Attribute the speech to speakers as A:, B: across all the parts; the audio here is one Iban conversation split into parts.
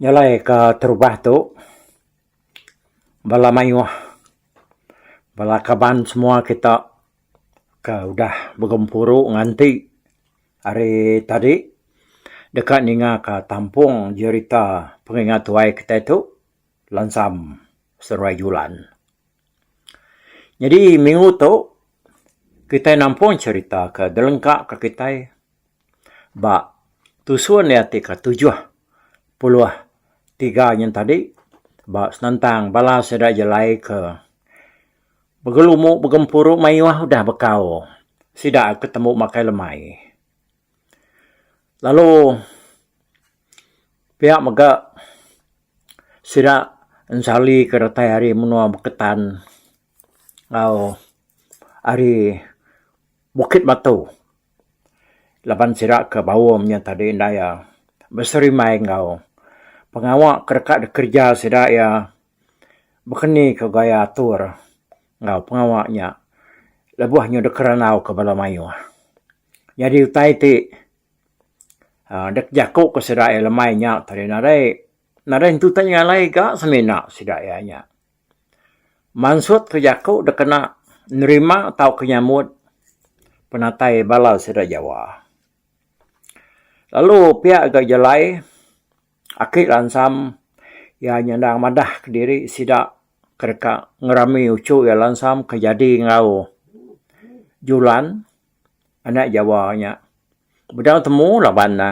A: Nyelai ka terubah tu bala mayuh bala kaban semua kita ke udah begempuru nganti Hari tadi, deka ningaka tampung jerita pengingat tuai kitai tu, Lansam Seruai Julan. Nyadi minggu tu, kitai nampung jerita ke dilengkaka kitai ba tusun iya ti ke tujuh puluh tiga nyen tadi ba senentang bala sida jelai ke Begelumu begempuru mayuh udah bekau sida ke tembu makai lemai. Lalu pia mega sida ensali ke datai ari menua Beketan enggau ari Bukit Batu laban sida ke baum nya tadi enda iya beserimbai enggau pengawa ke deka dikereja sida iya bekenika gaya atur enggau pengawa nya lebuh nyudah kerandau ke bala mayuh. Nyadi utai ti aaa dek jaku ke sida iya lemai nya tadi nadai nadai entu ti ngalai ga semina sida iya nya. Mansut ke jaku dek kena nerima tauka nyambut penatai bala sida Jawa. Lalu pia ga jalai. Aki Lansam iya nyandang madah kediri sida ke deka ngerami uchu iya Lansam ke jadi enggau Julan anak Jawa nya. Bedau temu laban ne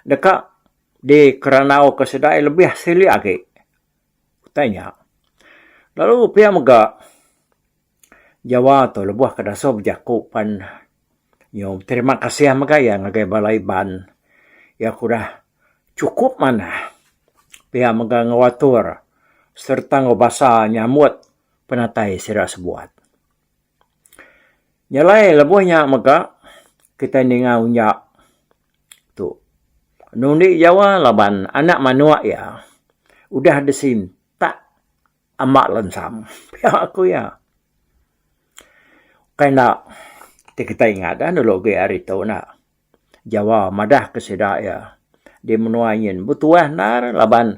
A: deka dikerandau ke sida iya lebih silik agi utai nya. Lalu pia mega. Jawa tu lebuh ke dasuh bejaku pan nyau terima kasih mega iya ngagai bala Iban iya ke udah chukup manah pia mega ngewatur sereta ngebasa nyambut penatai sida sebuat. Nyelai lebuh nya mega kitai ninga unja tu enu indi Jawa laban anak manuk iya udah disintak. Amat lensang pia aku iya. Ukai enda ti kitai ingat dah dulu agi hari tu enda. Jawa madah ke sida iya di menua nyin betuah endar laban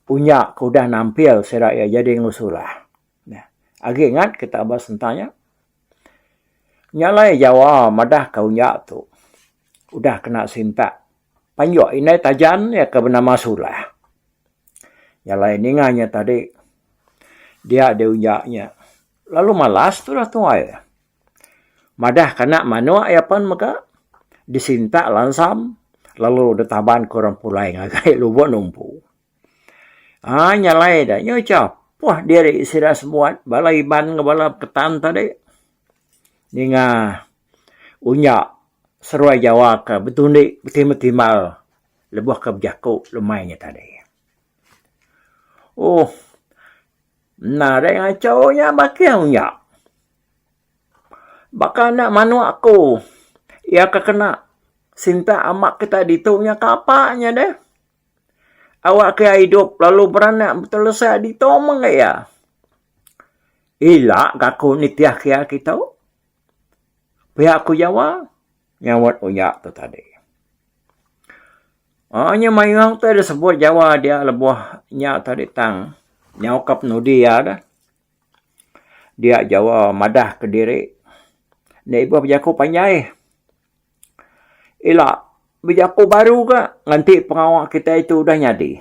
A: unya ke udah nampil sida iya jadi enggau sulah. Nah, agi ingat kita ba sentang nya. Nya alai Jawa madah ke unya tu udah kena sintak. Panjok indai Tajan iya ke benama Sulah. Jalai ninga nya tadi dia diunja nya lalu malas tulah tuai. Madah kana manok iya pen mega disintak lansam lalu ditaban ke orang pulai ngagai lubok numpu. Haa nya alai da nya cha apoh diri sida semuat bala iban enggau bala beketan tadi ninga unya seruai jawa ke betundi betimbal timbal lebuh ke bejaku lemai nya tadi. Ohh enda dai ngachau nya bakih unya. Baka enda manuk aku iya ke kena sintak amak kita ditu nya kapa nya deh. awak ke idup lalu beranak betelesa ditu mega iya. Ila ka aku nitih ke iya kitu pia ku Jawa nyaut uya tu tadi. Aaa nya mayuh utai da sebut Jawa dia lebuh nya tadi tang nyau ka penudi iya da. Dia Jawa madah ke diri ne ibuh bejaku panjai. Ila bejaku baru ga nganti pengawa kitai tu udah nyadi.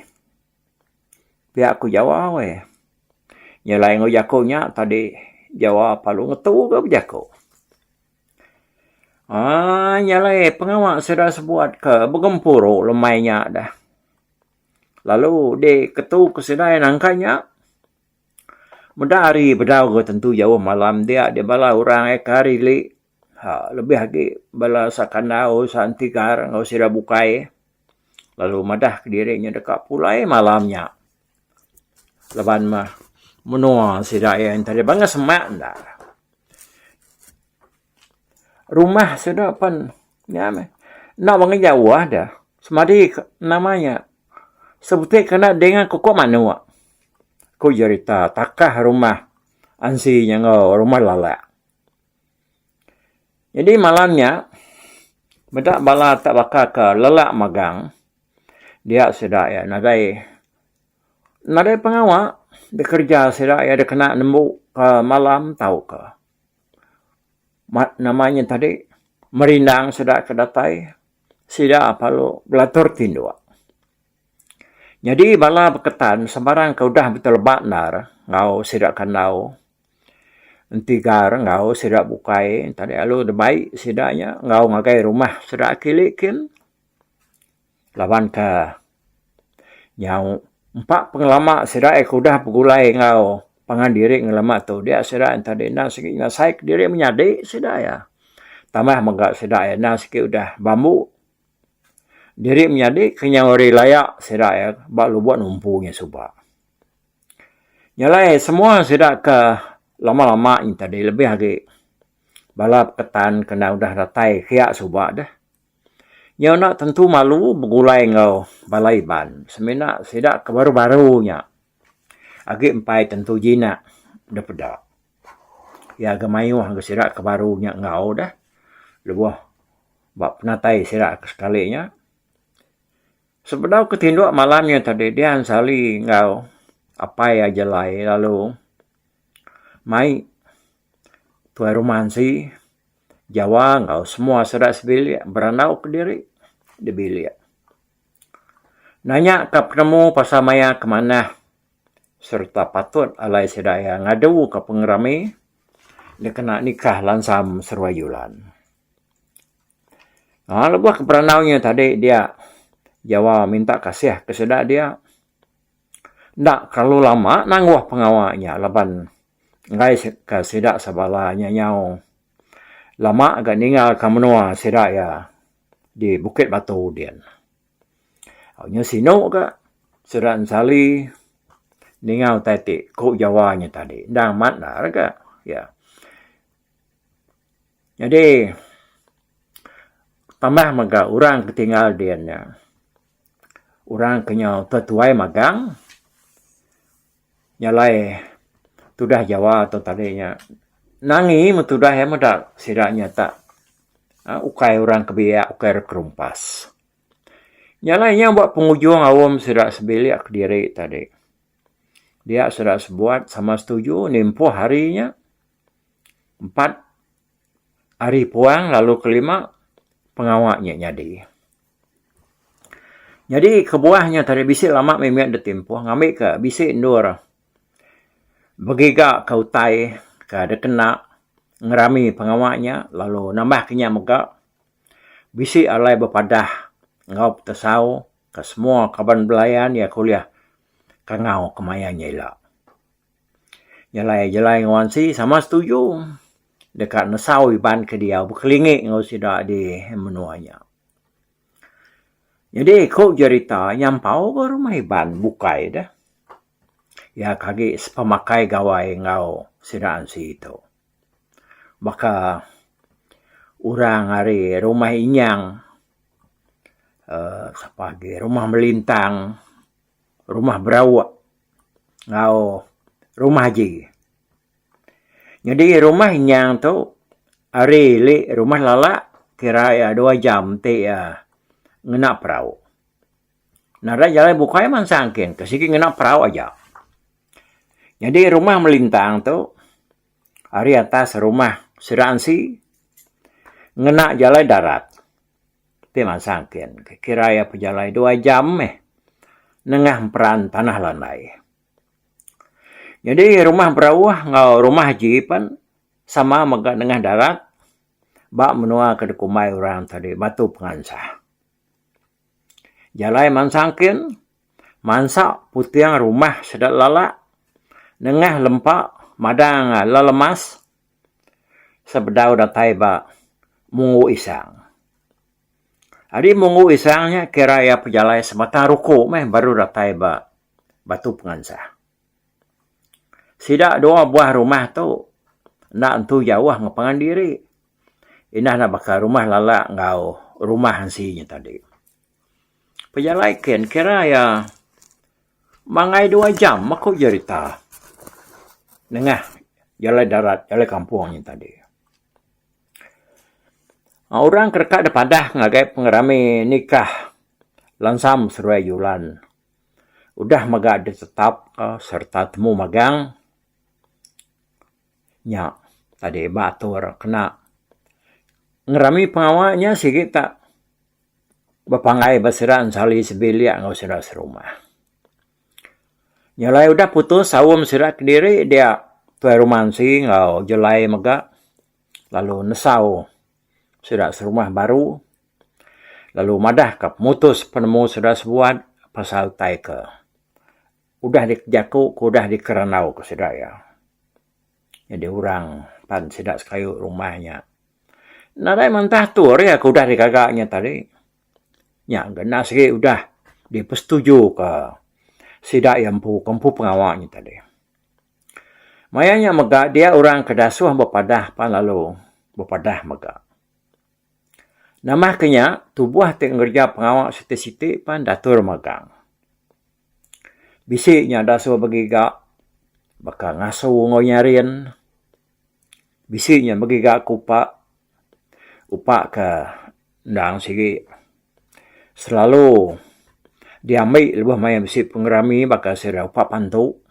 A: Pia ku jawa weh. Nyelai enggau jaku nya tadi jawa perlu ngetu ga bejaku. Aaa nyelai pengawa sida sebuat ke begempuru lemai nya deh. Lalu diketu ke sida iya nangka nya meda hari bedau ga tentu jauh malam dia dibala orang iya ke hari li. Lebih agi bala sakandau Santigar enggau sida bukai lalu madah kediri inya deka pulai malam nya laban meh menua sida iya enti ari bangah semak enda rumah sida pen nya meh enda bangah jauh deh semadi nama nya sebuti kena dinga ke ko manok ku jerita takah rumah ansi nya enggau rumah lala. Nyadi malam nya, meda bala te baka ke lelak megang dia sida iya nadai nadai pengawa di kereja sida iya dikena nembu malam tauka nama nya tadi merindang sida ke datai sida perlu belatur tinduk. Nyadi bala beketan sembarang ke udah beteleba endar enggau sida ke andau. Enti gar enggau sida bukai tadi lalu dibai sida nya enggau ngagai rumah sida kili kin laban ka nyau empa pengelama sida iya ke udah begulai enggau pangan diri ngelama tu dia sida enta deh enda sigi ngasai ke diri menyadi sida iya tambah mega sida iya enda sigi udah bambu diri menyadi ke nyau ari laya sida iya ba lubok numpu nya suba. Nya alai semua sida ke lama-lama nyin tadi lebih agi bala beketan ke enda udah datai kiya suba deh. Nya enda tentu malu begulai enggau bala iban semina sida ke baru-baru nya agi empai tentu jinak deh peda. Iya ke mayuh ngagai sida ke baru nya enggau deh lebuh ba penatai sida ke sekali nya. Sebedau ke tinduk malam nya tadi Dian Sali enggau Apai Ajelai lalu mai tuai rumah enti Jawa enggau semua sida sebilik berandau kediri di bilik nanya ka penemu pasal maya ke manah sereta patut alai sida iya ngadu ka pengerami dikena nikah lansam seruai julan. Aaa lebuh ke peranau inya tadi dia Jawa minta kasih ke sida dia enda kelalu lama nangguh pengawa inya laban enggai ka sida sebala inya nyau lama ga ninga ka menua sida iya di Bukit Batu din. Inya sinu ga sida ensali ninga utai ti ku Jawa inya tadi enda amat enda re ga iya. Nyadi tambah mega orang ti tinggal dian nya orang ke nyau tetuai magang nya alai tudah Jawa tu tadi nya nangi meh tudah iya meda sida nyetak ukai orang ke biak ukai orang ke rumpas. Nya alai iya ba pengujung aum sida sebilik kediri tadi dia sida sebuat sama setuju nempoh hari nya. Empat ari puang lalu kelima pengawa nya nyadi. Nyadi kebuah nya tadi bisi lama mih mih ditimpuh ngambika bisi endur begiga ka utai ka dikena ngerami pengawa nya lalu nambah ke nya mega bisi alai bepadah enggau petesau ka semua kaban belayan iya ke ulih kangau kemaya nya ila. Jalai jalai enggau ansi sama setuju deka nesau iban ke diau bekelingi enggau sida di menua nya. Nyadi ku jerita nyampau ba rumah iban bukai deh iya ke agi sepemakai gawai enggau sida ansi tu. Baka orang ari rumah inyang uhh sapa agi rumah melintang. rumah berauk enggau rumah aji. Nyadi rumah nyang tu ari ili rumah lala kira iya dua jam ti iya ngena perauk. Nadai jalai bukai mansang kin ke sigi ngena perauk aja. Nyadi rumah melintang tu ari atas rumah sida ansi ngena jalai darat. Ti mansang engkin, ke kira iya pejalai dua jam meh nengah emperan tanah landai. Nyadi rumah berauh enggau rumah jeep pan sama mega nengah darat ba menua ke dikumbai orang tadi Batu Pengansah. Jalai mansang engkin, mansa puting rumah sida lala nengah lempa madang lelemas sebedau datai ba Munggu Isang. Ari Munggu Isang nya kira iya pejalai sebatang ruku meh baru datai ba Batu Pengansah. Sida dua buah rumah tu enda entu jauh enggau pangan diri. Indah enda baka rumah Lala enggau rumah Ensi nya tadi. Pejalai ken kira iya mangai dua jam aku jerita nengah jalai darat jalai kampung nya tadi. Orang ke deka dipadah ngagai pengerami nikah lansam seduai julan udah mega adat tetap sereta temu magang nya tadi ba atur kena ngerami pengawa nya sigi ta. Bepanggai ba sida ensali sebilik enggau sida serumah. Nyelai udah putus saum sida kediri dia tuai rumah ensi enggau jelai mega lalu nesau sida serumah baru lalu madahka pemutus penemu sida sebuat pasal utai ke udah dijaku ke udah dikerandauka sida iya. Nyadi orang pan sida sekayu rumah nya. Nadai mantah tu ari aku udah digaga nya tadi. Nya ngena sigi udah dipesetujuka sida iya empu ke empu pengawa nya tadi. Maya nya mega dia orang ke dasuh bepadah pan lalu bepadah mega. Nambahka nya tubuh ti ngereja pengawa siti-siti pan datur magang. Bisi nya da suah begiga baka ngasu enggau nyarin. Bisi nya begiga ku upa, upa ke endang sigi selalu diambi lebuh maya bisi pengerami baka sida upa pantu,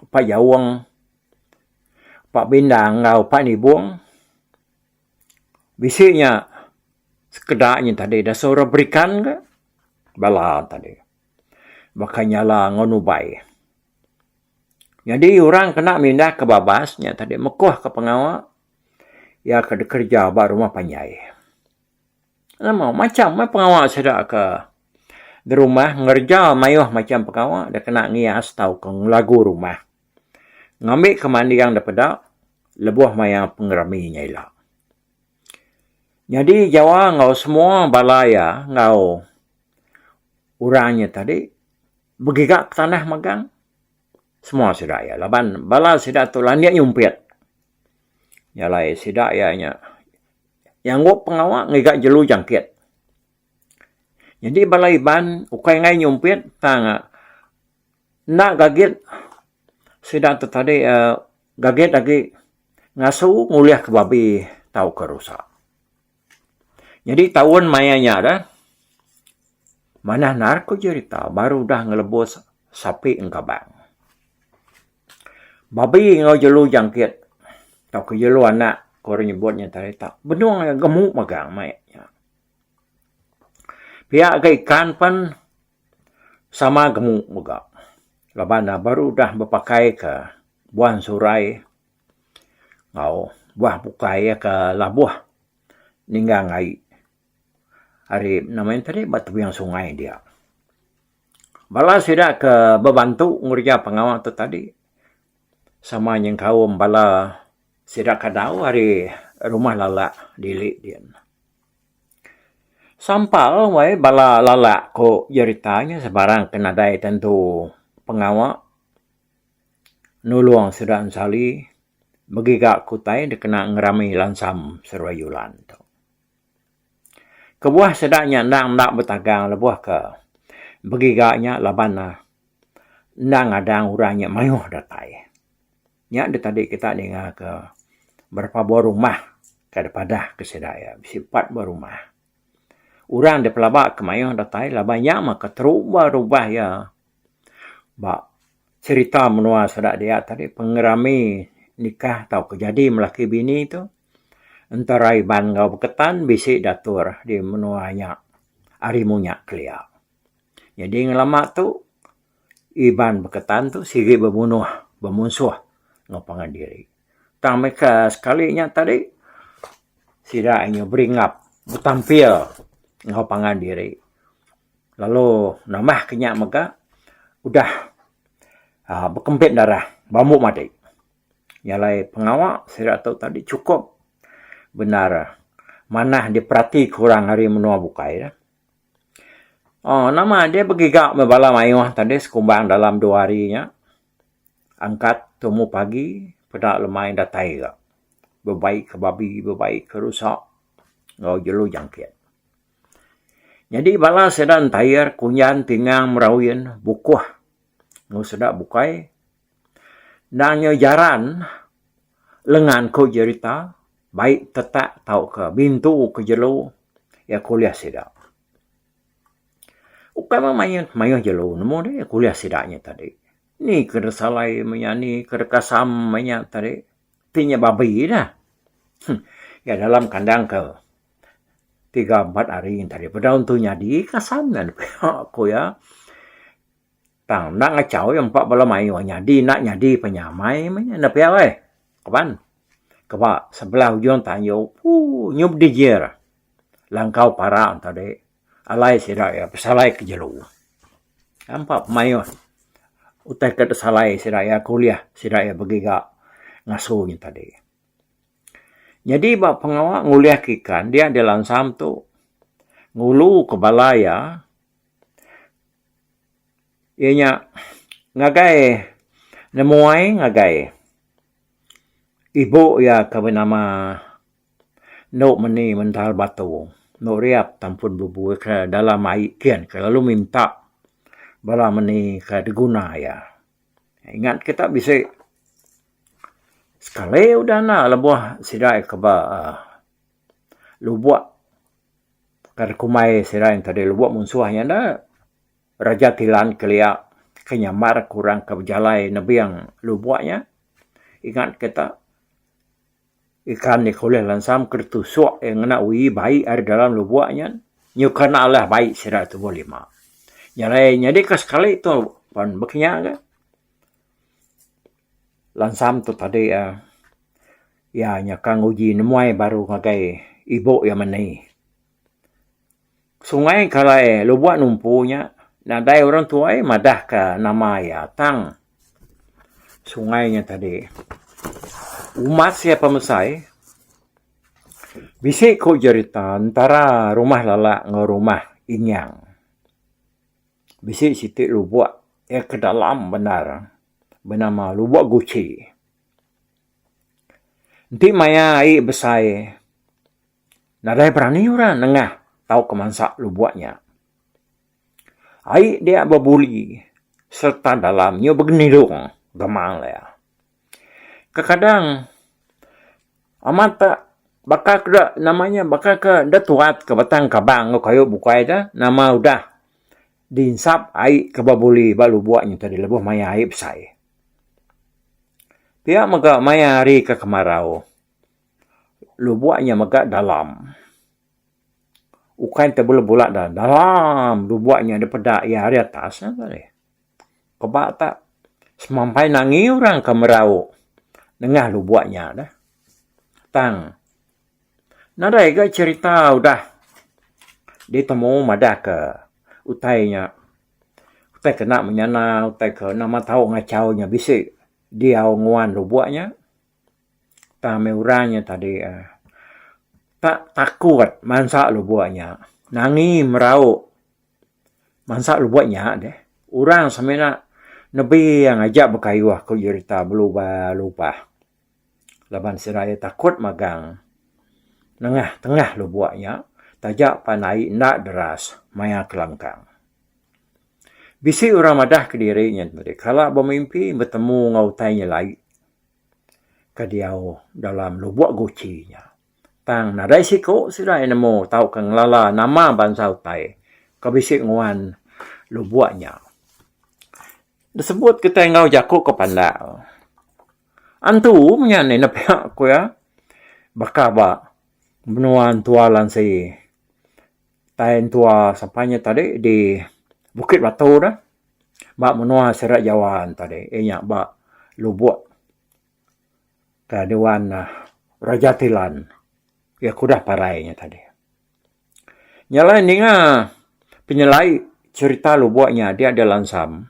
A: upa jaung, upa bindang enggau upa nibung. Bisi nya sekeda nya tadi da suah ra berikan ka. bala enta dih baka nyala enggau nubai. Nyadi orang kena mindah ke babas nya tadi mekuh ka pengawa iya ke dikereja ba rumah panjai. Nama macam meh pengawa sida ke ngerumah ngereja mayuh macam pengawa deh kena ngias tauka ngelagu rumah ngambika manding daripada lebuh maya pengerami nya ila. Nyadi Jawa enggau semua bala iya enggau orang inya tadi begiga petanah megang semua sida iya laban bala sida tu landik nyumpit iya alai sida iya nya nyanggup pengawa ngiga jelu jangkit. Nyadi bala Iban ukai angai nyumpit tang Enda gagit sida tu tadi gagit agi ngasu ngulihka babi tauka rusa. Nyadi taun maya nya dah manah naal ku jerita baru udah ngelebus sapi enggau kabang. Babi enggau jelu jangkit tauka jelu anak ku orang nyebut nya tadi tu benung aja gemu magang maya nya. Pia ga ikan pen. Sama gemu mega laban ne baru udah bepakaika buan surai enggau buah bukai iya ke labuh ninggang ai ari nama iya tadi ba tebing sungai dia. Bala sida ke bebantu ngereja pengawa tu tadi sama nyengkaum bala sida ke dau ari Rumah Lala Dili dian. Sampal wai bala lalak ko jerita nya sebarang ke nadai tentu pengawa nulong sida ensali begiga ke utai dikena ngerami lansam seruai yulan tu. Kebuah sida nya endang enda betagang lebuh ke begiga nya laban ne enda ngadang orang nya maioh datai. Nya deh tadi kita ninga ke berapa buah rumah ke deh padah ke sida iya. Bisi empat buah rumah. Orang deh pelaba ke mayuh datai laban nya mah keterubah rubah iya ba serita menua sida dia tadi pengerami nikah tauka jadi melaki bini tu entara Iban enggau Beketan bisi diatur di menua nya ari munyak kelia. Jadi ngelama tu. Iban beketan tu sigi bemunuh bemunsuh enggau pangan diri. Tang meka sekali nya tadi sida inya beringap betampil enggau pangan diri lalu nambah ke nya mega udah aaa bekempit darah bambu mati. Nya alai pengawa sida tu tadi chukup bendar manah diperatika orang ari menua bukai. Oh nama dia begiga meh bala mayuh tadi sekumbang dalam dua hari nya angkat tumu pagi peda lemai datai ga bebaikka babi bebaikka rusa enggau jelu jangkit. Nyadi bala sida ntair kunyan tingang meraun bukuh enggau sida bukai. Endang nyau jaran lengan ku jerita bayi tetak tauka bintu ke jelu iya ke ulih sida. Ukai mah mayuh mayuh jelu nemu deh iya ke ulih sida nya tadi. Ni ke deh salai menya ni ke deh kasam menya tadi ti nya babbi dah. Huh iya dalam kandang ke tiga empat hari tadi peda tu nyadi kasam nya ku iya. Tang enda ngachau iya empa bala mayuh nyadi enda nyadi pan iya amai meh nya enda pia alai kaban. Kaba sebelah ujung tanjung ooh nyu bedijir langkau parak ento deh alai sida iya besalai ke jelu. Empa mayuh utai ke disalai sida iya ke ulih sida iya begiga ngasu nya tadi. Nyadi ba pengawa ngulihka ikan dia dilansam tu ngulu ke bala iya. Iya nya ngagai nemuai ngagai ibu iya ke benama endo meni mental batu endo riap tan pun bebui ke dalam ai kin ke lalu minta bala meni ke diguna iya. Ingat kita bisi sekali udah enda lebuh sida ke ba lubok. Baka da kumbai sida yang tadi lubuk munsuh nya enda, Raja Tilan kelia ke nyambar ke orang ke bejalai nebing lubuk nya. Ingat kita, ikan nya ke ulih lansam ke ditusuk iya ngena uyi bai ari dalam lubuk nya nyuka enda alah bai sida tubuh lima. Nya alai nyadika sekali tu pan baka nya ga. Langsam tu tadi iya, iya nyaka nguji nemuai baru ngagai ibu iya mani. Sungai ke alai lubok numpu nya nadai orang tuai madah ka nama iya tang sungai nya tadi umas iya pemesai bisi ku jerita antara rumah lala enggau rumah inyang. Bisi siti lubok iya ke dalam bendar benama lubok guci. Enti maya ai besai nadai berani orang nengah tauka mansa lubok nya. Ai dia bebuli sereta dalam nyu begenirung gemang dia. Kekadang amat ba baka ke da nama nya baka ke da tuat ke batang kabang enggau kayu bukai da nama udah dinsap ai ke ba buli ba lubok nya tadi lebuh maya ai besai. Pia mega maya hari ke kemarau lubok nya mega dalam ukai enta bula-bula dalam lubok nya da peda iya ari atas nya tadi. Keba ta semampai nangi orang ke merau nengah lubok nya dah tang nadai ga cherita udah ditemu madah ke utai nya utai kena menyana utai ke nama tau ngachau nya bisi diau nguan lubok nya tang meh orang nya tadi tak takut mansa lubok nya nangi merau. Mansa lubuk nya deh, orang semina nebing aja bekayuh ku jerita belubah-lubah laban sida iya takut magang nengah tengah lubuk nya taja pan ai enda deras maya kelangkang. Bisi orang madah kediri nya meri kala bemimpi betemu enggau utai nya lai ke diau dalam lubuk guchi nya. Tang nadai siku sida iya nemu tauka ngelala nama bansa utai ke bisi nguan lubok nya. Disebut kitai enggau jaku ke pandak. Antu menya ni nepiak ku iya baka ba menua entua Lansi. Utai entua sapa nya tadi di Bukit Batu tu ba menua Serak Jawa tadi iya nya ba lubok. ka dewan Raja Tilan iya ke udah parai nya tadi. Nya alai ninga penyelai cherita lubok nya dia deh lansam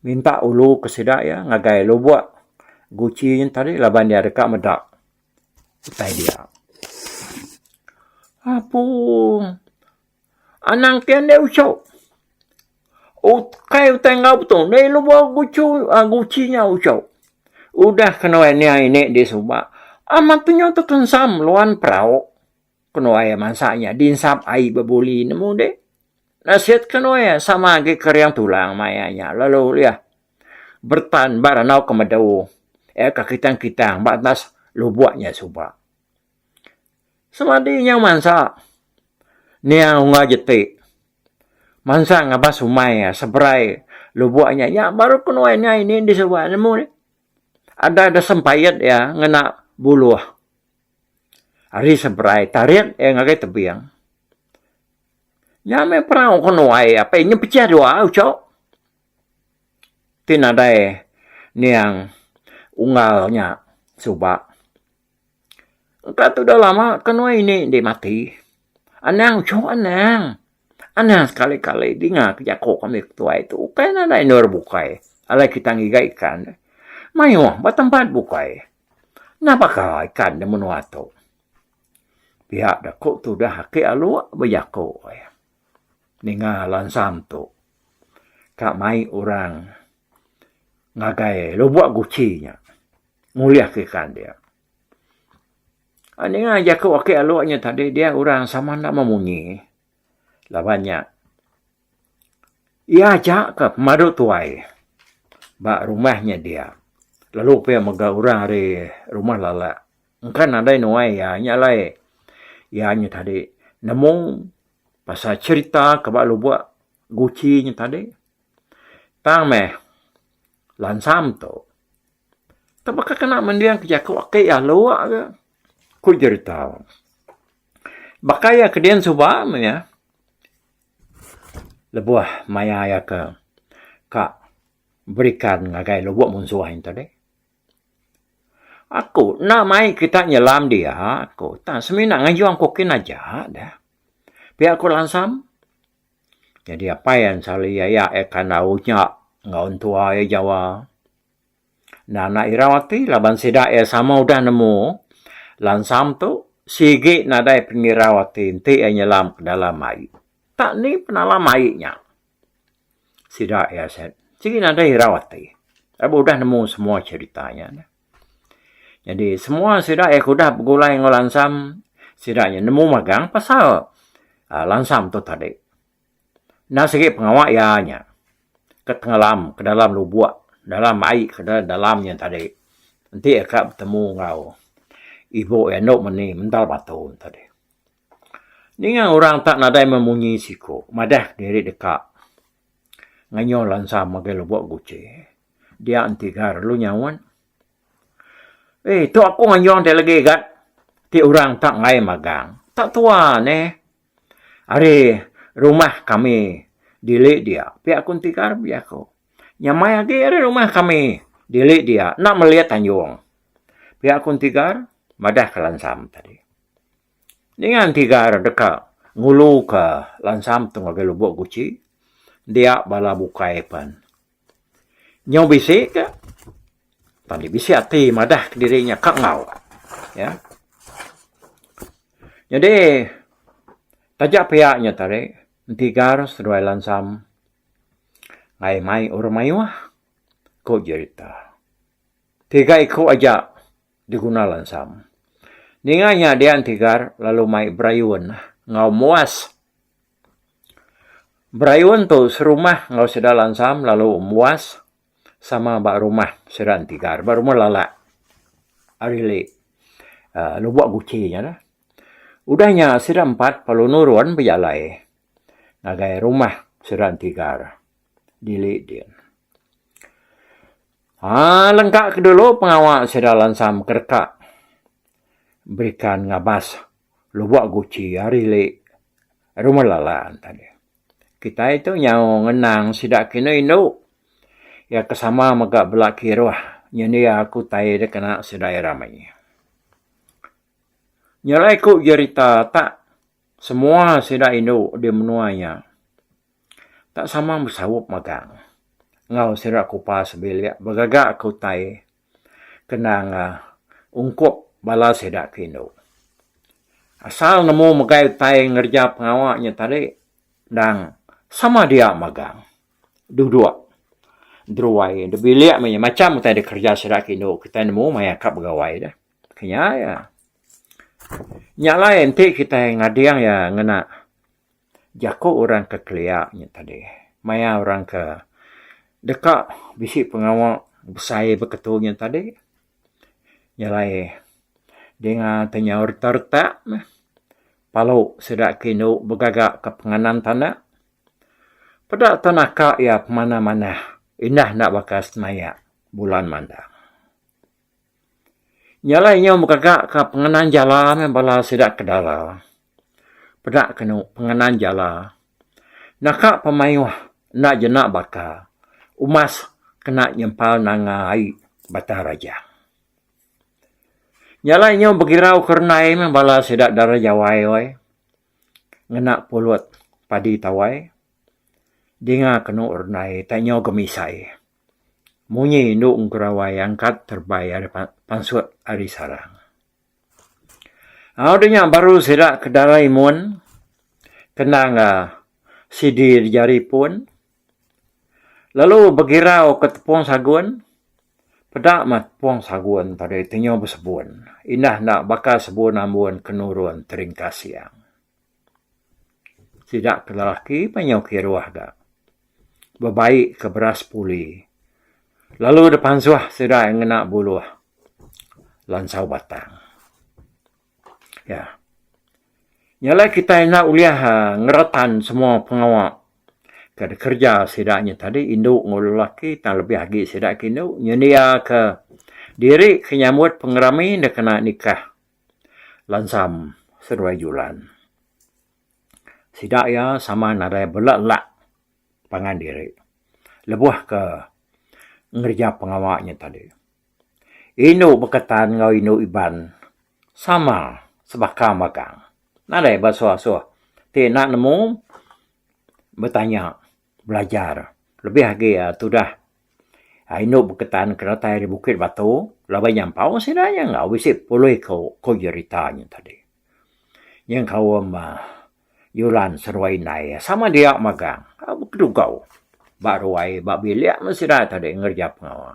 A: minta ulu ke sida iya ngagai lubok Guchi nya tadi laban iya deka meda utai dia. Apung. Anang ti andai uchu. Ukai utai enggau betul. Enda ilu bau guchu, guchi nya uchu. Udah kenuai niai ini di suba, amat penyu tu tensam luan perau. Kenuai iya mansa nya dinsap ai bebuli nemu udi. Nasit kenuai iya sama agi ke riang tulang mai iya nya lalu iya bertan ba randau ke medu. Iya ke kitang-kitang ba atas lubok nya suba. Semadi inya mansa niang ungar jeti mansang ngabas umai iya seberai lubok inya nya baru kenuan inya ini di sawa nemu ni ada da sempait iya ngena buluh ari seberai tarit iya ngagai tebing nya meh perau kenuan iya apai inya pecah dua ucho ti nadai niang unggal nya suba. Engka tudah lama ke nuan ini enti mati. Anang uchu anang. Anang sekali kali dinga ke jako kami ke tuai tu ukai nadai endor bukai alai kita ngiga ikan deh. Mayuh ba tempat bukai. Napa ka ikan deh menua tu. Pia da ku tudah aki alok bejako iya. Ninga lansam tu ka mai orang ngagai lubok guchi nya. Ngulihka ikan dia. Ninga jaku aki alu nya tadi dia orang sama enda meh munyi laban nya iya aja ka pemadu tuai ba rumah nya dia lalu pia mega orang ari rumah lala engka nadai nuai iya nya alai iya nya tadi nemu pasal cherita ke ba lubok guchi nya tadi tang meh lansam tu. Tang baka kena mendingka jaku aki iya lua ga, ku Jeritau. Baka iya ke dian suba meh iya lebuh maya iya ke ka berikan ngagai lubuk munsuh ain tadi. Aku enda mai kita nyelam dia ku, tang semina ngejung ku kin aja deh. Pia ku Lansam. Jadi apai iya ensal iya iya kandau nya enggau entua iya jawa. Enda enda irau ati laban sida iya sama udah nemu lansam tu sigi nadai pengirau ati enti iya nyelam ke dalam ai. Tak ni penalam ai nya sida iya sigi nadai irau ati laban udah nemu semua cherita nya neh. Jadi semua sida iya ke udah begulai enggau lansam sida nya nemu magang pasal lansam tu tadi. Endang sigi pengawa iya nya ke tengalam ke dalam lubok dalam ai ke dalam nya tadi enti iya ka betemu enggau ibu iya enda meni mental batu nya tadi. Ninga orang tak nadai memunyi siku madah diri deka ngenyau lansa mega lubok guci dia enti ga lalu nyaut eh tu aku ngenyau enti lagi ga ti orang tak angai magang tak tuan eh. Ari rumah kami dili dia pia ku enti ka rbi aku. Nyamai agi ari rumah kami dili dia enda meli tanjung. Pia ku enti ka madah ka lansam tadi. Ninga enti ka deka ngulu ka lansam tu ngagai lubok guchi dia bala bukai pen. Nyau bisi ka tadi bisi ati madah ka diri nya ka enggau iya. Nyadi taja pia nya tadi enti gar seduai lansam ai mai urang mayuh ku jerita. Tiga iku aja diguna lansam. Ninga nya dia enti gar lalu mai berayun enggau muas. Berayun tu serumah enggau sida lansam lalu embuas sama ba rumah sida enti ga ba rumah lala ari ali aaa lubok guchi nya lah. Udah nya sida empat lalu nurun bejalai ngagai rumah sida enti ga dili din. Aaa lengka ke dulu pengawa sida lansam ke deka berikan ngabas Lubok guci ari li rumah lalan tadi. Kitai tu nyau ngenang sida kini indu iya ke sama mega bela kiruh nyendia aku utai dikena sedia rami. Nyelai ku jerita tak semua sida indu di menua nya tak sama besaup magang enggau sida ke upa sebilik begaga ke utai. kena enggau ungkup bala sida ke indu. Asal nemu megai utai ngereja pengawa nya tadi endang sama dia magang, duduk deruai endur bilik meh nya macam utai dikereja sida ke indu kitai nemu maya ka begawai deh. Ke nya iya. Nya alai enti kitai ngading iya ngena Jaku orang ke kelia nya tadi maya orang ke deka bisi pengawa besai beketu nya tadi nya alai dinga ti nyau retak retak meh palu sida ke indu begaga ke penganan tana peda te naka iya pemanah manah indah enda baka semaya bulan mandang. Nya alai inyau begaga ka pengenang jala meh bala sida ke dara. Peda ke enu pengenang jala. Naka pemaioh enda jena baka umas kena nyempal nanga ai Batang Rajang. Nya alai inyau begirau ke renai meh bala sida dara Jawai woi ngena pulut padi tawai. Dinga ke enu renai tak inyau gemisai. Munyi indu engkura wai angkat terbai ari pansut ari sarang. Au deh nya baru sida ke darai mun kenang ga sidi di jari pun lalu begirau ke tepung sagun peda mah tepung sagun tadi ti nyau besebun indah enda baka sebun ambun ke nurun teringkasing. Sida ke lelaki menyau kiruh da bebai ke beras puli lalu da pansuh sida iya ngena buluh lansau batang. Iya. Nya alai kitai enda ulih uhh ngeretan semua pengawa ke dikereja sida nya tadi indu enggau lelaki tang lebih agi sida ke indu nyendiake diri ke nyambut pengerami enda kena nikah. Lansam seduai julan. Sida iya sama nadai bela lak pangan diri lebuh ke ngereja pengawa nya tadi. Indu beketan enggau indu Iban sama sebaka magang. Nadai ba suah-suah ti enda nemu betanya belajar lebih agi tudah indu beketan ke datai ari Bukit Batu laban iya empu sida iya enggau bisi pulih ku jerita nya tadi. Iya kaum Yulan Seruai Indai sama dia magang bedugau ba ruai ba bilik men sida tadi ngereja pengawa.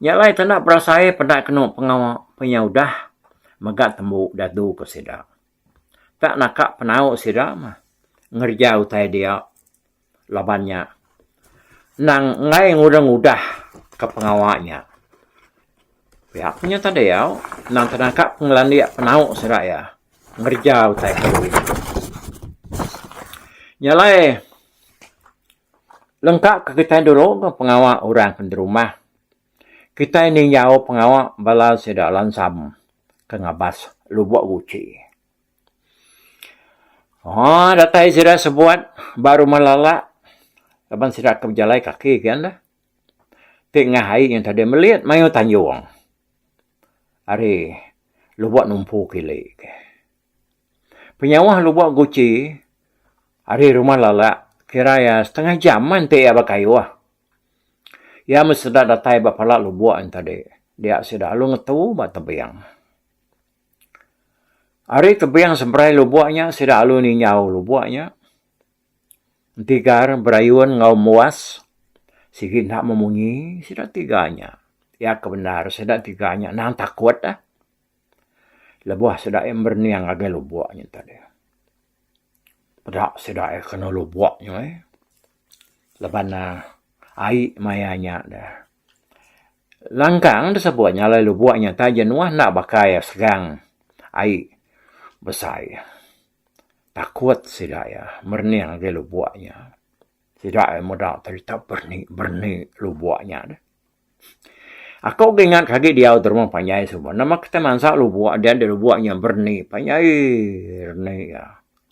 A: Nya alai tanda berasai peda kenu pengawa pun iya udah mega tembu dadu ku sida. Ka naka penau sida mah ngereja utai dia laban nya endang enggai ngudah ngudah ka pengawa nya. Pia ku nyau tadi au endang tenaka pengelandik penau sida iya ngereja utai ke duai nya. Nya alai lengka ka kitai dulu pengawa orang ke nderumah. Kitai ninjau pengawa bala sida lansam ke ngabas lubok guci. Haa datai sida sebuat ba rumah lala laban sida ke bejalai kaki ke enda ti ngah ai nyau tadi melit mayuh tanjung ari lubok numpu kili ke. Penyauh lubok guci ari rumah lala kira iya setengah jam mah enti iya bekayuh. Iya meh sida datai ba pala lubok ain tadi dia sida alu ngetu ba tebing. Ari tebing seberai lubok nya sida alu ninjau lubok nya. Tigar berayun enggau muas sigi enda memunyi sida tiga nya. Iya ke bendar sida tiga nya nang takut lebuh sida merening ngagai lubok nya tadi. Peda sida ai kena lubok nya ai laban ai maya nya dah langkang da sebut nya alai lubok nya taja nuah enda bakai segang ai besai takut sida iya merening agei lubok nya. Sida ai meda cerita berni berni lubok nya deh. Aku ke ingat ke agi diau terma panjai suba nama kita mansa lubok dia di lubok nya berni panjai rni iya.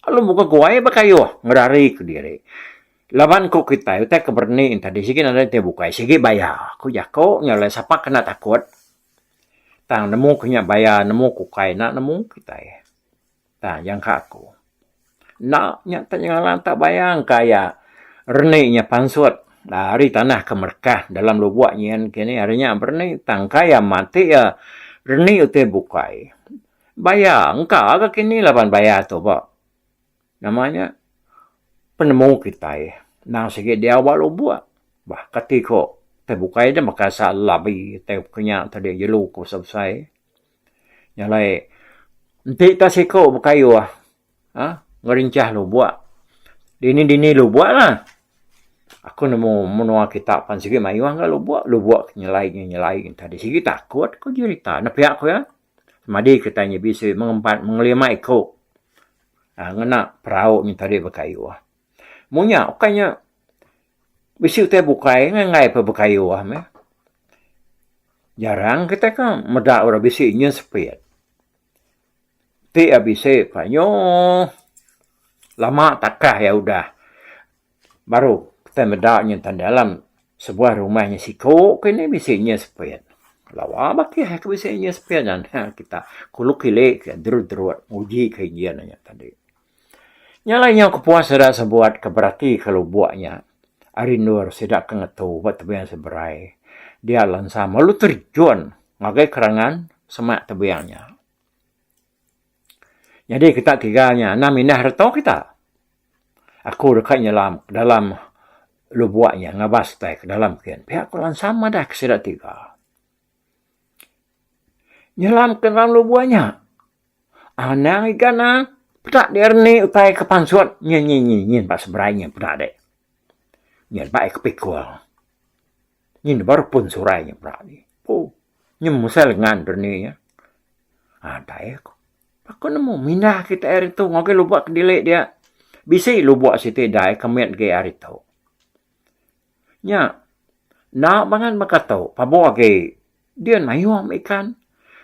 A: Alu muka guai bekayuh ngedari ke diri. Laban ku kitai utai ke berni tadi sigi nadai ti bukai sigi baya ku jaku nya alai sapa kena takut tang nemu ke nya baya nemu ke ukai enda nemu kitai. Tang jangka aku. Enda nya tang nyalan tang bayang ka iya reni nya pansut ari tanah ke merekah dalam lubok nyin kini ari nya bereni tang ka iya mati iya reni utai bukai. Baya engka ga kini laban baya tu ba nama nya penemu kitai nang sigi diau ba lubok bah kati ko utai bukai da baka sa labi utai ke nya tadi jelu ko besai-besai. Nya alai enti ka siko bekayuh aaa ngerinchah lubok dini dini lubok lah aku nemu menua kita pan sigi mayuh ga lubok lubok ti nyelai ti nyelai tadi sigi takut ku jerita nepiak ku iya madi kita nya bisi mengempat mengelima iko ngena perau nya tadi bekayuh. Mung nya ukai nya bisi utai bukai ngai enggai peh bekayuh meh. Jarang kitai ke meda orang bisi nyin sepit. Ti iya bisi pah nyuh lama takah iya udah baru kitai meda nyin tan dalam sebuah rumah nyin siku keh ni bisi nyin sepit. Lawa bah keh ke bisi nyin sepit nya. Kita kulu kili ke derut-derut nguji ke nyin nya tadi. Nya alai nyau kepuas sida sebuat ke beratika lubuk nya ari endur sida ke ngetu ba tebing seberai dia lansam lalu terjun ngagai kerangan semak tebing nya. Nyadi kita tiga nya anang mindah reto kita. Aku deka nyelam ke dalam lubuk nya ngabas tai ke dalam kin pia ku lansam madah ke sida tiga nyelam ke dalam lubuk nya. Anang iga na peda di erni utai ke pansut nyin nyin nyin nyin ba seberai nyin peda dik. Nyin ba ika pikul. Nyin di baru pun surai nyin peda dik. Poo nyin musai lengan berni nya. Haa dai aku. Aku nemu minda kitai hari tu ngagai lubak kedilek dia. Bisi lubak siti dai ke mit agi hari tu. Nya, enda mangan baka tu, pabuh agi dia mayuh mih ikan,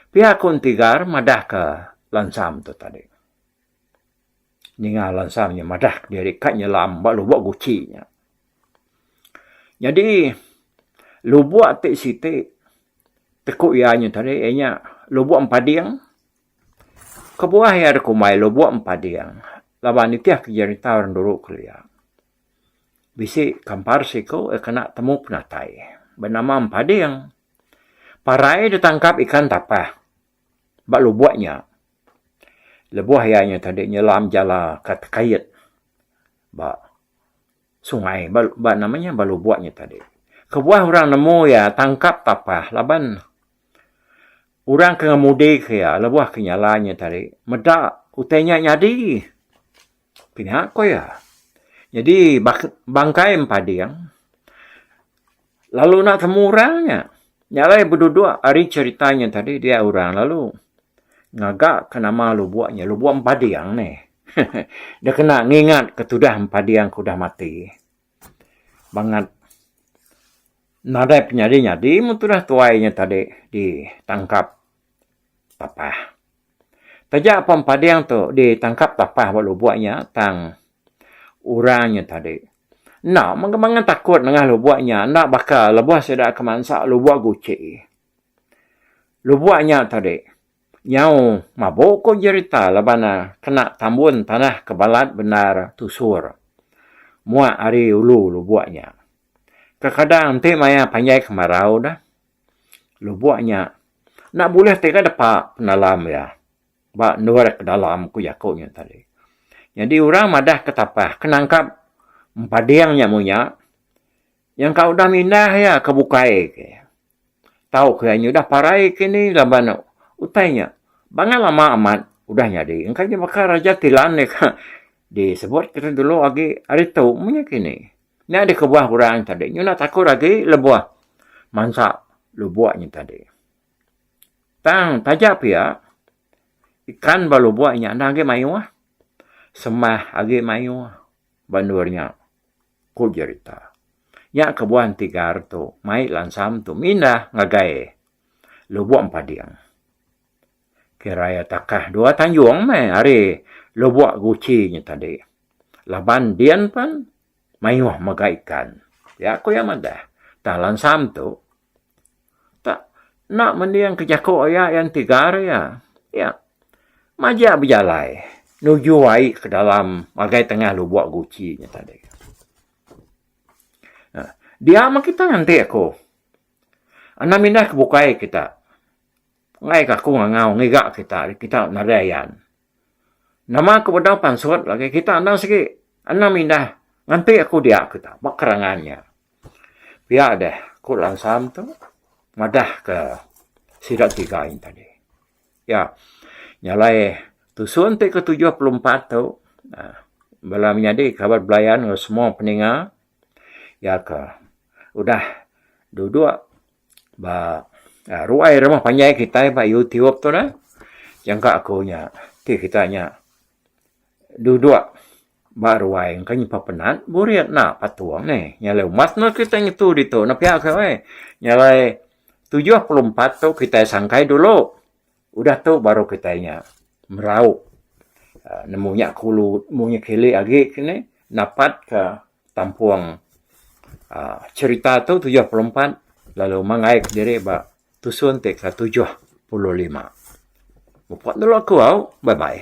A: pia ku enti gar madahka lansam tu tadi. Ninga lansam nya madah ke diri ka nyelam ba lubok guci nya. Nyadi, lubok ti siti ti ku iya nya tadi iya nya lubok empading. Kebuah iya dikumbai lubok empading laban nitihka jerita orang dulu kelia. Bisi kampar seiku iya kena temu penatai benama empading. Parai deh tangkap ikan tapah ba lubok nya. Lebuh iya nya tadi nyelam jala ka tekait ba sungai ba nama nya ba lubok nya tadi. Kebuah orang nemu iya tangkap tapah laban orang ke ngemudi ke iya lebuh ke nyala iya tadi meda utai nya nyadi. Pia ko iya. Nyadi bangkai empading lalu enda temu orang nya. Nya alai beduduk ari cherita nya tadi dia orang lalu ngaga ke nama lubok nya lubok empading ni. Deh kena ngingat ke tudah empading ke udah mati. Bangat nadai penyadi-nyadi mun tudah tuai nya tadi ditangkap Tapah. Taja apan pading tu ditangkap Tapah ba lubuk nya tang orang nya tadi enda mega mangan takut nengah lubuk nya enda baka lebuh sida ke mansa lubuk guci. Lubuk nya tadi nyau mabu ku jerita laban ne kena tambun tanah ke balat bendar tusur muak ari ulu lubuk nya. Kekadang enti maya panjai kemarau dah. Lubok nya enda bulih ti ka depa pendalam iya ba endur iya ke dalam ku jaku nya tadi. Nyadi orang madah ke tapah ke nangkap empading nya mung nya nyangka udah mindah iya ke bukai ke. Tau ke iya nya udah parai ke ni laban utai nya bangat lama amat udah nyadi. Engka nya baka Raja Tilan deka disebut kita dulu agi hari tu mung nya kini. Nya deh kebuah orang tadi nyulah takut agi lebuh mansa lubuk nya tadi. Tang taja pia ikan ba lubuk nya enda agi mayuh sembah agi mayuh ba endur nya, ku jerita. Nya kebuah enti gar tu mai lansam tu mindah ngagai Lubuk Empading. Kiraya takah dua tanjung meh ari lubuk guci nya tadi. Laban din pen mayuh mega ikan. Ya ku iya madah. Tang lansam tu tak enda mending ke jaku iya iya enti gar iya. Iya majak bejalai nuju ai ke dalam ngagai tengah lubuk guci nya tadi. Nah, dia meh kita nganti ku. Anang mindah ke bukai kita. Enggai ke aku ngangau ngiga kita ari kita nadai ayan. Nama ku bedau pansut lagi kita enda sigi enam indah nganti aku dia kita ba kerangan nya. Pia deh ku Lansam tu madah ke sida tiga ain tadi. Ya nya alai tusun ti ke tujuh puluh empat tu uhh bala menyadi kaban belayan enggau semua peninga iya ke udah dudok Ba ruai rumah panjai kitai ba Youtube tu neh nyangka aku nya ti kitai nya dudok ba ruai engka nyimpan penat burit enda patung nih. Nyalai umas meh kitai ngetu ditu pia ko weh. Nyalai tujuh puluh empat tu kitai sangkai dulu. Udah tu baru kitai nya meraup nemu nya kulu nemu nya kili agi ke ni napat ka tampung aaa cerita tu tujuh puluh empat lalu manggai ke diri ba tusun ti ke tujuh puluh lima. Mupok dulu aku au. Bye bye.